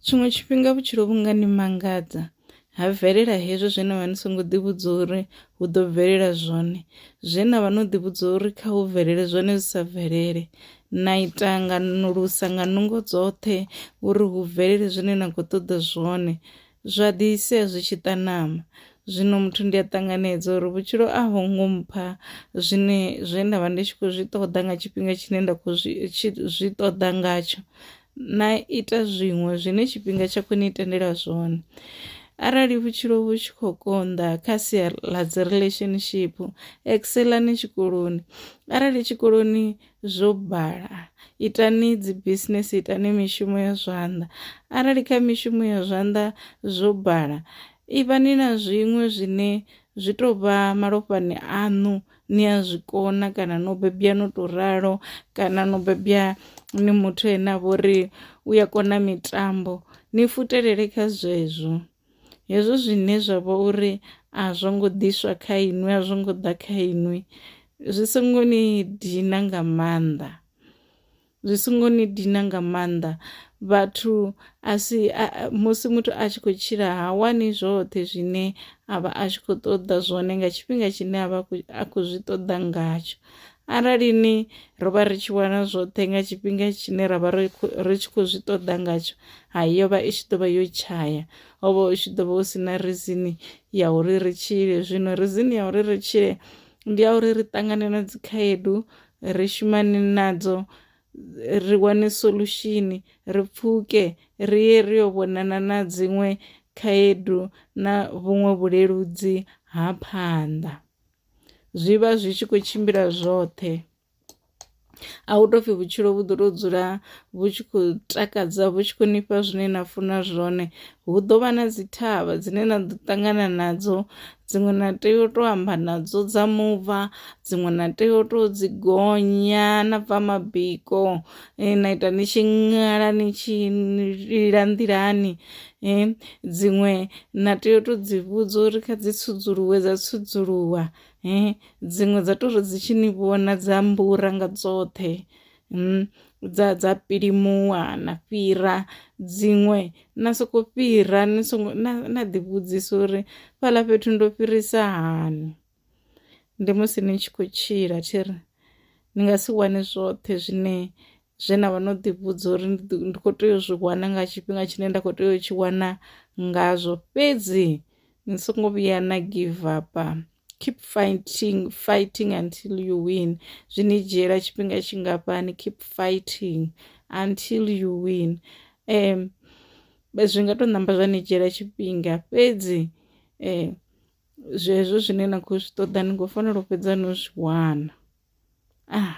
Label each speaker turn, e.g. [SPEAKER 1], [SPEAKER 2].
[SPEAKER 1] tshiṅwe tshifhinga vhutshilo vhu nga ni mangadza ha bvelela hezwo zwe na vha ni songo ḓivhudza uri hu ḓo bvelela zwone zwe na vha no ḓivhudza uri kha hu bvelele zwone zwi sa bvelele na ita nga nulusa nga nungo dzoṱhe uri hu bvelele zwine na khou ṱoḓa zwone zwa ḓi sia zwi tshi ṱanama zwino muthu ndi a ṱanganedza uri vhutshilo a ho ngo mpha zwine zwe nda vha ndi tshi khou zwi ṱoḓa nga tshifhinga tshine nda khou zwi ṱoḓa ngatsho na ita zwiṅwe zwine tshifhinga tsha khou ni tendela zwone arali vhutshilo vhu tshi khou konḓa kha sia ḽa dzi relationship excelani tshikoloni arali tshikoloni zwo bala itani dzi business itani mishumo ya zwanḓa arali kha mishumo ya zwanḓa zwo bala ivhani na zwiṅwe zwine zwi tou vha malofhani aṋu ni a zwi kona kana no bebwa no to ralo kana no bebwa ni muthu ane a vha uri u ya kona mitambo ni futelele kha zwezwo. Hezwo zwine zwa vha uri a zwo ngo ḓiswa kha inwi a zwo ngo ḓa kha inwi zwi songo ni dina nga maanḓa. Zwi songo ni dina nga maanḓa vhathu a si musi muthu a tshi khou tshila ha wani zwoṱhe zwine a vha a tshi khou ṱoḓa zwone nga tshifhinga tshine a vha a khou zwi ṱoḓa ngatsho arali ni ro vha ri tshi wana zwoṱhe nga tshifhinga tshine ra vha ri tshi khou zwi ṱoḓa ngatsho ha yo vha i tshi ḓo vha yo tshaya ho vha u tshi ḓo vha hu si na rizini ya uri ri tshile zwino rizini ya uri ri tshile ndi ya uri ri ṱangane na dzikhaedu Ri shumane nadzo ri wane solution ri pfuke ri ye ri yo vhonana na dziṅwe khaedu na vhuṅwe vhuleludzi ha phanḓa zwi vha zwi tshi khou tshimbila zwoṱhe a hu tou pfhi vhutshilo vhu ḓo tou dzula vhu tshi khou takadza vhu tshi khou nifha zwine na funa zwone hu ḓo vha na dzi thavha dzine na ḓo ṱangana nadzo dziṅwe na tea u tou amba nadzo dza mubva dziṅwe na tea u tou dzi gonya na bva mabiko eh, na ita ni tshi ṅala ni tshi lila nḓilani eh, dziṅwe na tea u tou dzi vhudza uri kha dzi tsudzuluwe dza tsudzuluwa eh, dziṅwe dza tou ri dzi tshi ni vhona dza mbura nga dzoṱhe mm, dza dza pilimuwa na fhira dziṅwe na soko fhira ni songo na, na ḓivhudzisa uri fhala fhethu ndo fhirisa hani ndi musi ni tshi khou tshila thi ri ni nga si wane zwoṱhe zwine zwe na vha no ḓivhudza uri ndi khou tea u zwi wana nga tshifhinga tshine nda khou tea u tshi wana ngazwo fhedzi ni songo vhuya na give up keep fighting fighting until you win zwi ni dzhiela tshifhinga tshingafhani keep fighting until you win um zwi nga to namba zwa ni dzhiela tshifhinga fhedzi um zwezwo zwine na khou zwi ṱoḓa ni khou fanela u fhedza no zwi wana ah